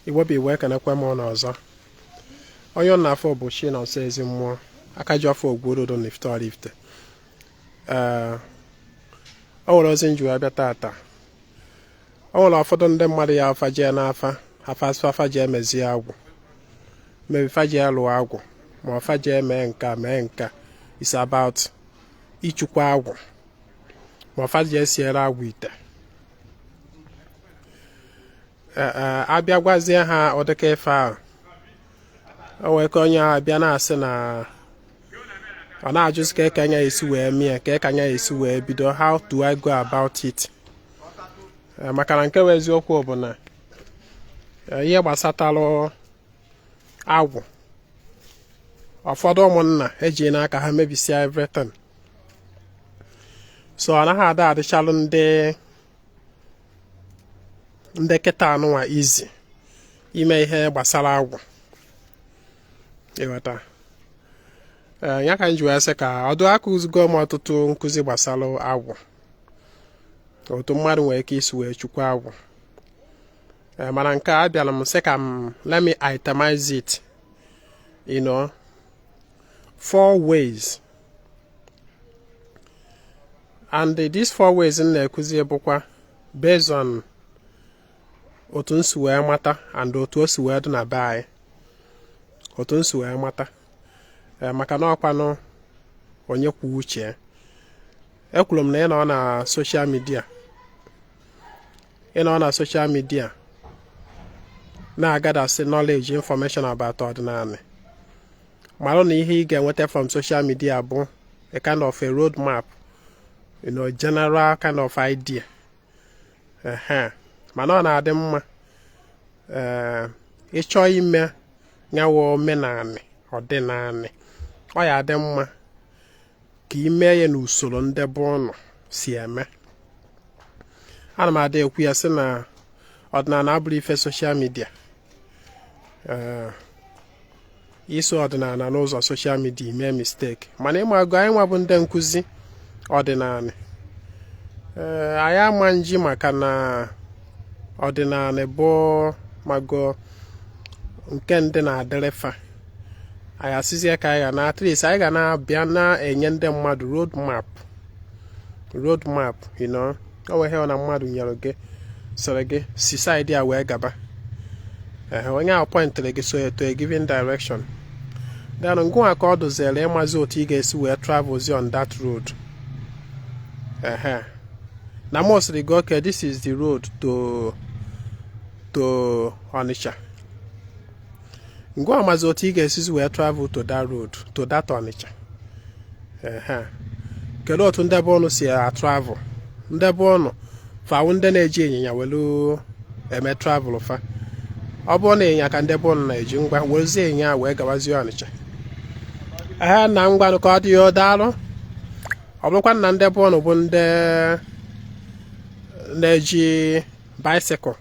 igbo bụ igbo ekenekwa m ụnụ ọzọ onye ụnụ na-afụ bụ chinonso ezi mmụọ aka ji ọfọ ogwurodo n'ifite ọraifite ee o nwere ozi m ji wee bịa tata o nwere ụfọdụ ndị mmadụ ya fa jee n'afa afa asị fa jee mezie agwụ maybe fa jee lụọ agwụ ma ọ fa jee mee nka mee nka is about ịchụkwa agwụ ma fa jee siere agwụ ite eh, eh, a bịa gwazie ha ọ dịka ife ahụ o wee ka onye ahụ bịa na-asị na ọ na-ajụzi kee ka m ya-esi wee mie kee ka m ya-esi wee bido how do I go about it eh, maka na nke bụ eziokwu bụ na ihe gbasatalụ agwụ ụfọdụ ụmụnna ejina aka ha mebisịa everything so ọ naghị ada adịchalụ ndị ndị kịta anụnwa easy ime ihe gbasara agwụ ị ghọta ee ya ka m ji wee sị ka ọ dụ akụzigo m ọtụtụ nkụzi gbasara agwụ otu mmadụ nwere ike isi wee chụkwa agwụ ee mana nke a abịara m sị ka m let me itemize it you know four ways and these four ways m na-ekuzi bụkwa based on otu m si wee mata and otu o si wee dị na be anyị otu m si wee mata eh, maka na ọkwanụ onye kwuo uche ekwuru m na ị nọ na social media ị nọ na social media na-agadasị knowledge information about ọdịnanị mara na ihe ị ga-enweta from social media bụ a kind of a road map you know, general kind of idea mana ọ na-adị mma eh, ị chọọ ime nya bụ omenanị ọdịnanị ọ ya-adị mma ka i mee ya n'usoro ndị be ụnụ si eme ana m ada ekwu ya sị na ọdịnanị abụrọ ife social media eh, i so ọdịnanị n'ụzọ social media mee mistake mana ị mago anyị nwa bụ ndị nkụzi ọdịnanị ee eh, anyị ama nji maka na ọdịnanị bụ ị mago nke ndị na-adịrị fa anyị asịzie ka anyị ga na at least anyị ga na-abịa na-enye ndị mmadụ road map road map you know ọ wụ ihe a na mmadụ nyere gị sịrị gị si side a wee gaba ehe onye ahụ pointịrị gị so to a given direction then ngụnwa ka ọ dụziere ịmazi otu ị ga-esi wee travelzi on that road ehe na m sịrị gị okay this is the road to Onitsha ngwa amazi otu ị ga-esizi wee travel to that road to that Onitsha kedu otu ndị be unu si atravel ndị be unu fa wụ ndị na-eji ịnyịnya welu eme travel fa ọ bụrụ na ịnyịnya ka ndị be unu na-eji ngwa werezie ịnyịnya wee gawazie Ọnịcha ehe na ngwanụ ka ọ dị ya daalụ ọ bụrụkwa na ndị be unu bụ ndị na-eji bicycle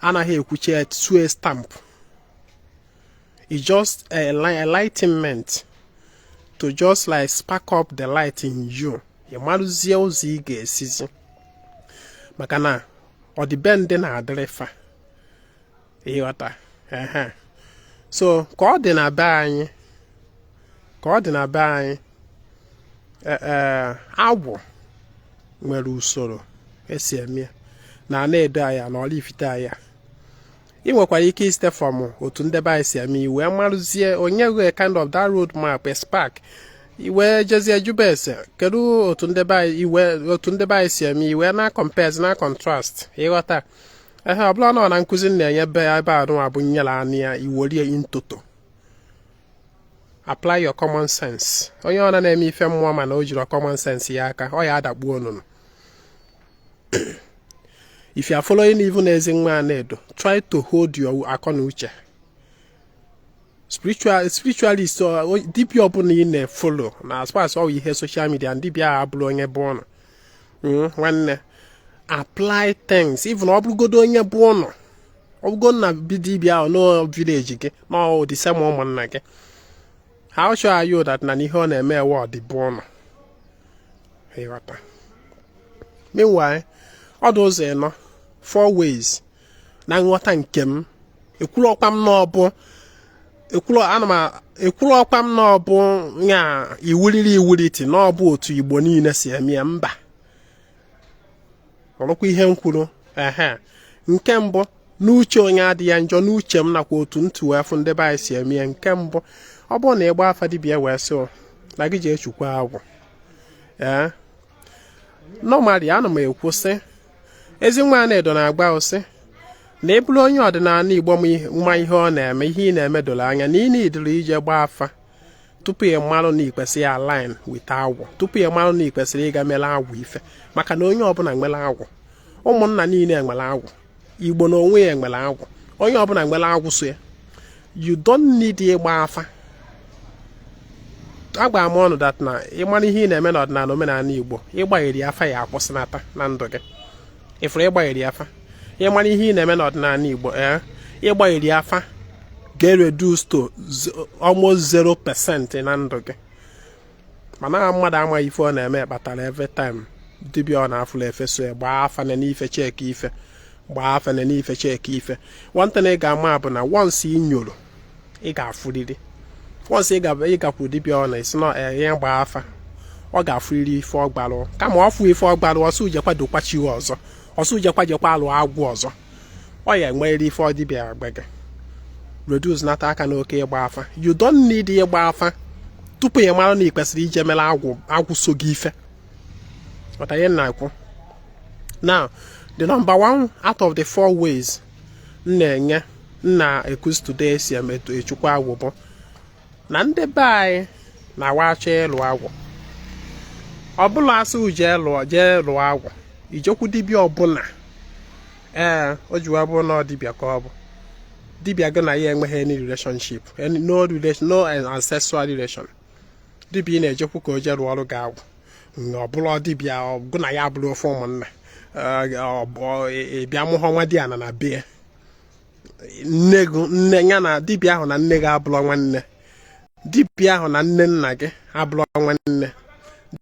anaghị ekwuchi ya tue stamp it's just enlightenment to just like spark up the light in you ị maruzie ụzọ ị ga-esizi maka na ọdịbendị na-adịrị fa ị ghọta ehe so ka ọ dị na be anyị ka ọ dị na be anyị e, e, agwụ nwere usoro esi eme na Anaedo here na Oraifite here ị nwekwara ike isite from otu ndị be anyị si eme ị wee maruzie o nye gị kind of that road map a spark ị wee jezie jụbe ese kedu otu ndị be anyị si eme ị wee na-compare na-contrast ị ghọta ehe ọ bụla nọ na nkuzi na-enye be ya ebe a nụwa bụ nyere anụ ya ị were ya in toto apply your common sense onye ọ na-eme ife mmụọ mana o jirọ common sense ya aka ọ ya adakpuo onunu if you are following even Ezinwa Anaedo try to hold your akọ na uche spiritual spiritualist uh, dibịa ọbụla ị na-efollow na as far as ọ wụ ihe social media dibịa ahụ bụrụ onye be unu hmm, nwanne apply things even ọ bụrụgodo onye be unu ọ bụgo na dibịa ahụ nọ village gị nọ the same ụmụnna gị how sure are you that na ihe ọ na-eme wụ ọ dị be unu ị ghọta meanwhile ọ dị ụzọ ịnọ four ways na nghọta nke m ekwurọkwa m na ọ bụ ekwurọkwa m na ọ bụ ya iwuliri iwuliti na ọ bụ otu Igbo niile si eme ya mba ọrụkwa ihe m kwuru ehe nke mbụ n'uche onye adị ya njọ n'uche m nakwa otu m too wee fụ ndị be anyị si eme ya nke mbụ ọ bụrụ na ị gbaa afa dibịa wee sị na gị jee chukwa agwụ ee normally ana m ekwu sị ezi nwa Anaedo na-agwa gị sị na ị bụrụ onye ọdịnala igbo ma ihe ọ na-eme ihe ị na-eme doro anya na ị needirọ ije gbaa afa tupu ị marụ na ikwesịrị align with agwụ tupu ị marụ na ikwesịrị ịga mere agwụ ife maka na onye ọbụla nwere agwụ ụmụnna niile nwere agwụ igbo na onwe ya nwere agwụ onye ọbụla nwere agwụ so ya you don't need ịgba afa agwara m unu that na ị mara ihe ị na-eme n'ọdịnala omenala igbo ịgbagheri afa ya akwụsịnata na ndụ gị ị fụrụ ịgbagheri afa ị mara ihe ị na-eme n'ọdịnala Igbo ee eh? ịgbagheri afa ga-ereduce to almost zero percent na ndụ gị mana mmadụ amaghị ife ọ na-eme kpatara every time dibịa ọ na-afụla ife so ya gbaa afa nene ife checkie ife gbaa afa nene ife checkie ife one thing ị ga-ama bụ na once ị nyoro ị ga-afụrịrị once ị ga- ị gakwu dibịa ọ na-esi na eh, ihe gbaa afa ọ ga-afụrịrị ife ọ gbalụ kama ọ fụ ife ọ gbalụ ọ sị gị jekwa dokwa chi ya ọzọ ọ sị gị jekwa jekwaa lụọ agwụ ọzọ ọ ya enwerịrị ife ọ dibịa agwa gị reduce nata aka n'oke ịgba afa you don't need ịgba afa tupu ị mara na ị kwesịrị ije mere agwụ so gị ife But anyị na-ekwu. Now, the number one out of the four ways m na-enye m na-ekuzi today esi eme etu echukwa agwụ bụ na ndị be anyị na wa chọọ ịlụ agwụ ọ bụrọ a sị gị je lụọ jee lụọ agwụ i jekwu dibịa ọbụla ee o jiwa bụrụ na ọ dibịa ka ọ bụ dibịa gị na ya enweghị any relationship any no relation no ancestral relation dibịa ị na-ejekwu ka o jee lụọrụ gị agwụ ọ bụrụ dibịa gị na ya abụrọ ofu ụmụnna ị bịa abụhọ nwadiana na be nne gị nne ya na dibịa ahụ na nne gị abụrọ nwanne dibịa ahụ na nne nna gị abụrọ nwanne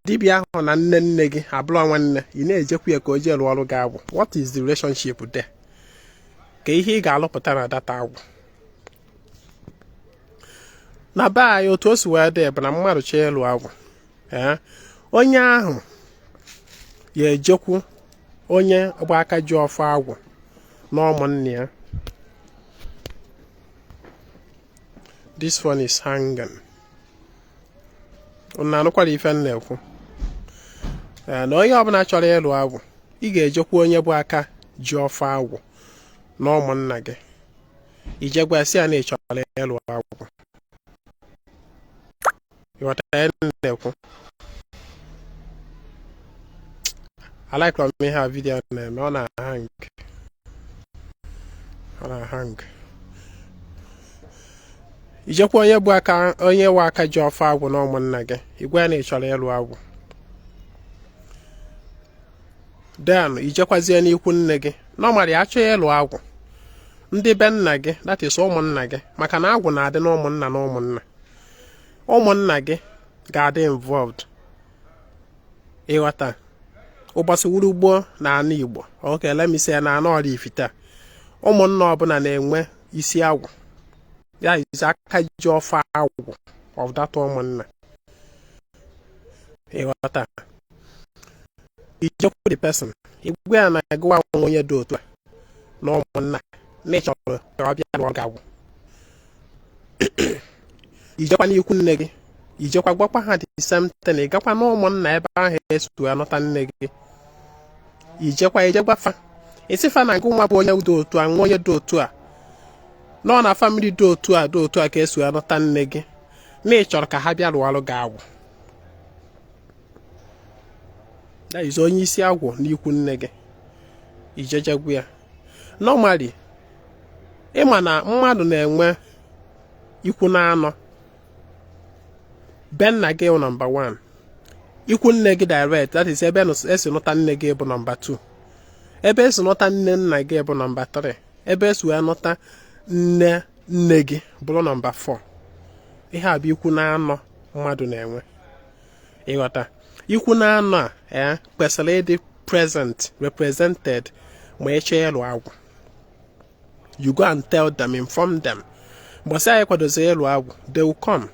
dibịa ahụ na nne nne gị abụrọ nwanne ị na-ejekwu ya ka o jee rụọrụ gị agwụ what is the relationship there kee ihe ị ga-alụpụta na that agwụ na be anyị otu o si wee dị bụ na mmadụ chọọ ịlụ agwụ onye ahụ ya ejekwu onye bụ aka ji ọfọ agwụ na ụmụnna ya this one is hanging unu anụkwara ife m na-ekwu na onye ọbụla chọrọ ịlụ agwụ ị ga-ejekwu onye bụ aka ji ọfọ agwụ na ụmụnna gị i je gwa sị ya na ị chọrọ ịlụ agwụ ịghọta ya na-ekwu alikerọ m ihe a video na-eme ọ na-ahang ọ na-ahang ijekwa onye bụ aka onye nwe aka ji ọfọ agwụ na ụmụnna gị ị gwa ya na ị chọrọ ịlụ agwụ then ijekwazie n'ikwu nne gị normally achọọ ịlụ agwụ ndị be nna gị that is ụmụnna gị maka na agwụ na-adị n'ụmụnna na ụmụnna ụmụnna gị ga-adị involved ịghọta ụbọchị wuru gboo na ana Igbo okay let me say na ana Oraifite ụmụnna ọbụla na-enwe isi agwụ that is aka ji ọfọ agwụ of that ụmụnna ịghọta ijekwu the person ị gwa ya na gị wụ onye dị otu a na ụmụnna na ịchọrọ ka ọ bịa lụọ gị agwụ ijekwa n'ikwu nne gị ijekwa gwakwa ha the same thing ị gakwa na ụmụnna ebe ahụ esi nụta nne gị ijekwa ije gwa fa ị sị fa na ngị nwa bụ onye dị otu a nwa onye dị otu a nọ na family dị otu a dị otu a ka esi nụta nne gị na ị chọrọ ka ha bịa rụọrụ gị agwụ that is onye isi agwụ n'ikwu nne gị ije jekwu ya normally ịma na mmadụ na-enwe ikwu na anọ be nna gị wụ nọmba 1 ikwu nne gị direct that is ebe esi nụta nne gị bụ nọmba 2 ebe esi nụta nne nna gị bụ nọmba 3 ebe esi wee nụta nne nne gị bụrụ nọmba 4 ihe a bụ ikwu na anọ mmadụ na-enwe ịghọta ikwu na anọ a ya eh, kwesịrị ịdị present represented ma eche ịlụ agwụ you go and tell them inform them gbasịa anyị kwadozi ịlụ agwụ they will come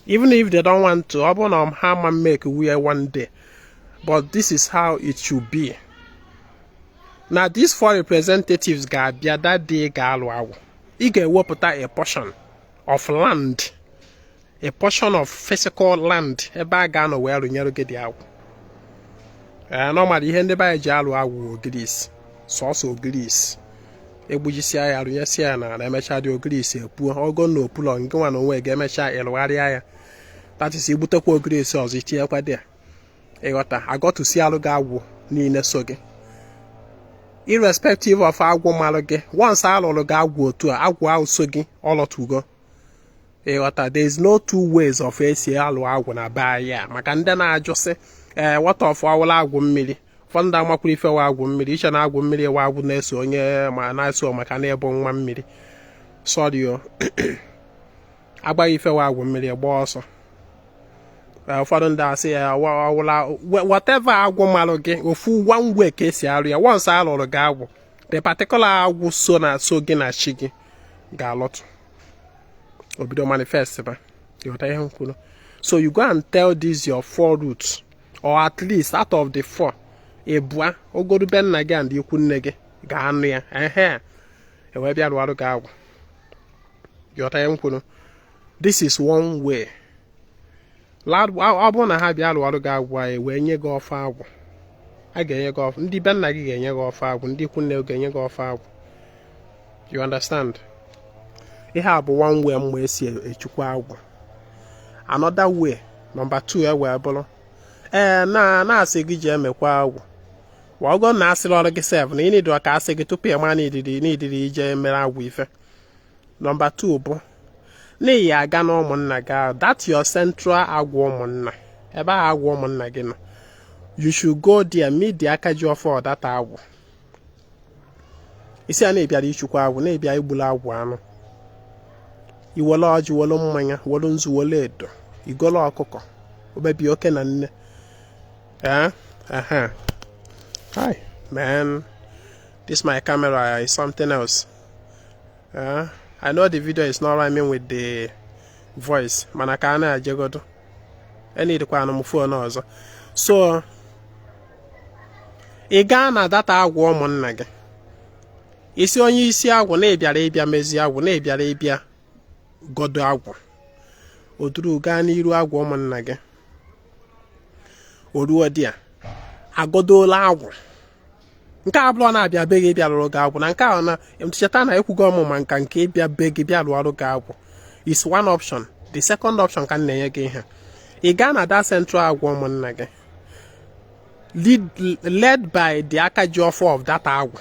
even if they don't want to ọ bụrụ na ha ma make where one day but this is how it should be na these four representatives ga-abịa that day ga-alụ agwụ ị ga-ewepụta a portion of land a portion of physical land ebe a ga-anọ wee rụnyere gị the agwụ ee normally ihe ndị be anyị ji alụ agwụ ogirisi sọsọ ogirisi egbujisia ya rụnyesịa ya n'ala emechaa the ogirisi epuo ọ bụ na opulọ ngị nwa na onwe ga-emecha ịrụgharịa ya that is igbutekwa ogirisi ọzọ itinyekwa there ịghọta agọtụsi alụ gị agwụ niile so gị irrespective of agwụ malụ gị once alụrụ gị agwụ otu a agwụ ahụ so gị ọlọtugo ịghọta there is no two ways of esi alụ agwụ na be anyị a maka ndị na-ajụ sị ee eh, what of ọ wụla agwụ mmiri ụfọdụ ndị amakwuru ife wa agwụ mmiri iche na agwụ mmiri wa agwụ na-eso onye ma na-eso maka na ị bụ nwa mmiri sorry o agbaghị ife wa agwụ mmiri gbaa ọsọ eh, ụfọdụ ndị asị ya eh, ọ wụla whatever agwụ malụ gị ofu one way ka esi arụ ya once alụrụ gị agwụ the particular agwụ so na so gị na chi gị ga-alọtụ obido manifest ba ịghọta ihe m kwuru so you go and tell this your four roots or at least out of the four ịbụa ogoru be nna gị and ikwu nne gị ga-anụ ya ehe ewee bịa rụọrụ gị agwụ ịghọta ihe m kwuru this is one way ọ bụrụ na ha bịa lụọrụ gị agwụ anyị wee nye gị ọfọ agwụ a ga-enye gị ọfọ ndị be nna gị ga-enye gị ọfọ agwụ ndị ikwu nne gị ga-enye gị ọfọ agwụ you understand ihe a bụ one way mgbe esi echukwa agwụ another way number 2 e wee bụrụ ee na-asị gị je mekwa agwụ wa ọgọ na asịrọ gị sef na ị needịrọ ka asị gị tupu ị ma na ị needịrị ije mere agwụ ife number 2 bụ na ị ya-aga na ụmụnna gị ahụ that your central agwụ ụmụnna ebe ahụ agwụ ụmụnna gị nọ you should go there meet the aka ji ọfọ of that agwụ ị sị ya na ị bịara ichukwa agwụ na ị bịa igbula agwụ anụ i wele ọjị welu mmanya welu nzu welu edo i golo ọkụkọ obebi oke na nne ee ehe hi man this my camera is something else Uh, I know the video is not rhyming with the voice mana ka a na-ajegodo e needịkwanụ m phone ọzọ so ị gaa na that agwụ ụmụnna gị ị sị onye isi agwụ na ị bịara ịbịa mezie agwụ na ị bịara ịbịa godo agwụ o duru gaa n'iru agwụ ụmụnna gị o ruo there a godola agwụ nke a bụrọ na a bịa be gị bịa rụrụ gị agwụ na nke a na cheta na ekwugo mụ maka nke ịbịa be gị bịa lụọrụ gị agwụ is one option the second option ka m na-enye gị ihe ị gaa na that central agwụ ụmụnna gị led by the aka ji ọfọ of that agwụ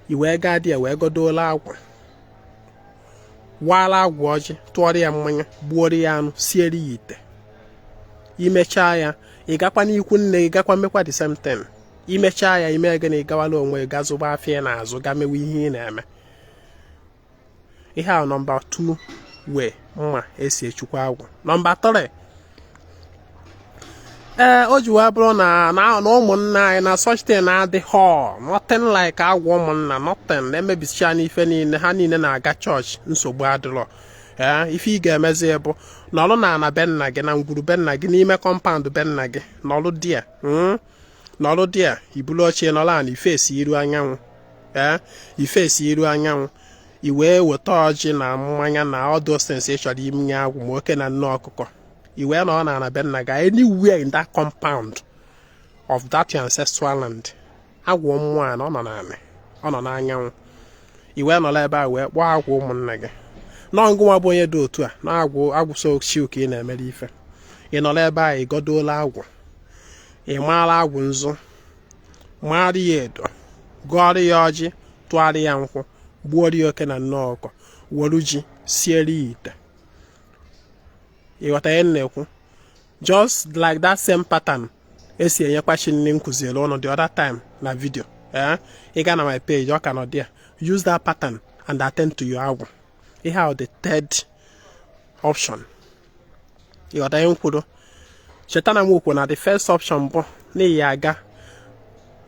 i wee gaa there wee godola agwụ waala agwụ ọjị tụọrọ ya mmanya gbuoro ya anụ siere ya ite i mechaa ya ị gakwa n'ikwu nne gị gakwa mekwa the same thing imechaa ya ime gịnị gawala onwe gị zụba afịa ị na-azụ ga mewe ihe ị na-eme ihe a nọmba 2 way mma esi echukwa agwụ nọmba 3 ee o ji wee bụrụ na na ụmụnna anyị na such thing adịrọ nothing like agwụ ụmụnna nothing na emebisichana ife niile ha niile na-aga chọọchị nsogbu adịrọ ee ife ị ga-emezi bụ nọrụ na ana be nna gị na ngwuru be nna gị n'ime compound be nna gị nọrụ there hmm? nọrụ there i bulu oche nọrọ ana i face iru anyanwụ ee i face iru anyanwụ i wee weta ọjị na mmanya na all those things ị chọrọ imenye agwụ ma oke na nne ọkụkọ i wee nọrọ na ana be nna gị anywhere in that compound of that your ancestral land agwụ mmụọ a na ọ nọ n'ala ọ nọ n'anyanwụ i wee nọrọ ebe a wee kpọọ agwụ ụmụnna gị na ọ ngụnwa bụ onye dị otu a na agwụ agwụ so chi gị ka ị na-emere ife ị nọrọ ebe a ị gọdoola agwụ ị maara agwụ nzu maara ya edo gọọrọ ya ọjị tụara ya nkwụ gbuoro ya oke na nne ọkụkọ welu ji siere ya ite ị ghọta ihe m na-ekwu just like that same pattern esi enyekwa chi nni m kụziere ụnụ the other time na video ee eh? ị ga na my page ọ ka nọ there use that pattern and attend to your agwụ ihe ahụ the third option ị ghọta ihe m kwuru cheta na m kwuru na the first option bụ na ị ya aga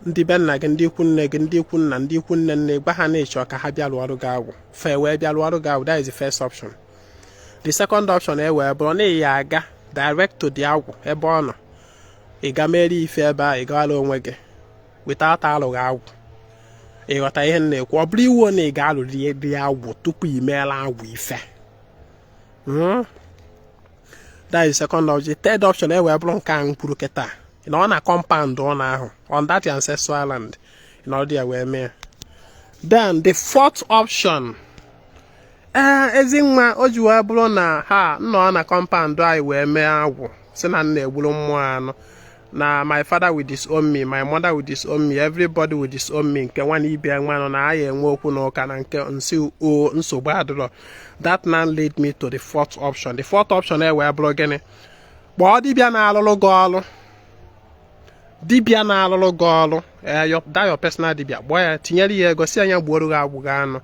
ndị be nna gị ndị ikwu nne gị ndị ikwu nna ndị ikwu nne nne gwa ha na ị chọ ka ha bịa lụọrọ gị agwụ fa wee bịa lụọrọ gị agwụ that is the first option the second option e wee bụrụ na ị ya aga direct to the agwụ ebe ọ nọ ị ga mere ife ebe a ị gawara onwe gị without alụghị agwụ ị ghọta ihe m na-ekwu ọ bụrọ iwu na ị ga-alụrịrị agwụ tupu ị meela agwụ ife hmm? that is second option third option e wee bụrụ nke a m kwuru kịta nọọ na compound ana ahụ on that ancestral land nọọ there wee mee then the fourth option ee eh, ezi nwa o ji wee bụrụ na ha nọ na compound anyị wee mee agwụ si na nna egburu mmụọ anụ na my father will disown me my mother will disown me everybody will disown me nke nwa na ibe nwa nọ na a ya-enwe okwu na ụka na nke nsi o nsogbu adịrọ that now lead me to the fourth option the fourth option e wee bụrụ gịnị kpọọ dibịa na-alụrụ gị ọrụ dibịa na-alụrụ gị ọrụ eh, that your personal dibịa kpọọ ya tinyere ya ego sị ya gbuoro gị agwụ gị anụ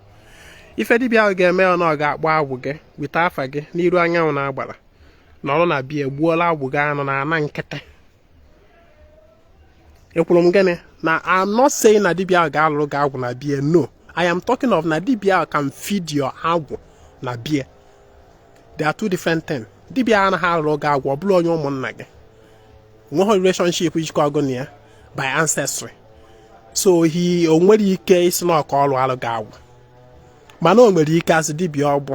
ife dibịa ahụ ga-eme ọ na ọ ga-akpọ agwụ gị weta afa gị n'iru anyanwụ na agbara nọrọ na be ya egbuola agwụ gị anụ na ana nkịtị ekwuru m gịnị na I'm not saying na dibia ahụ ga-alụrụ gị agwụ na be ya no I am talking of na dibia ahụ can feed your agwụ na be ya they are two different things dibia anaghị alụrụ gị agwụ ọ bụrụ onye ụmụnna gị nweghị relationship jikọrọ gị na ya by ancestry so he o nwerọ ike ịsị na ka ọ lụọrọ gị agwụ mana o nwere ike as dibia ọ bụ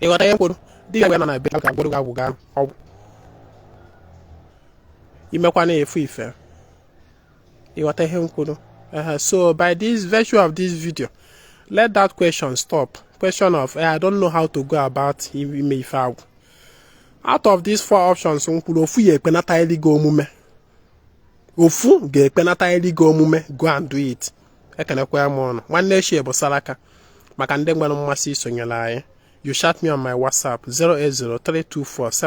ịghọta ihe m kwuru dibia na be ka gwụrụ gị agwụ gaa ọgwụ imekwana efu ife ịghọta ihe m kwuru so by this virtue of this video let that question stop question of eh, i don't know how to go about ime ife agwụ out of these four options m kwuru ofu ga-ekpenatarịrị gị omume ofu ga-ekpenatarịrị gị omume go and do it ekenekwa m ụnụ nwanne echi bụ saraka maka ndị nwere mmasị isonyere anyị you chat me on my whatsapp 0803247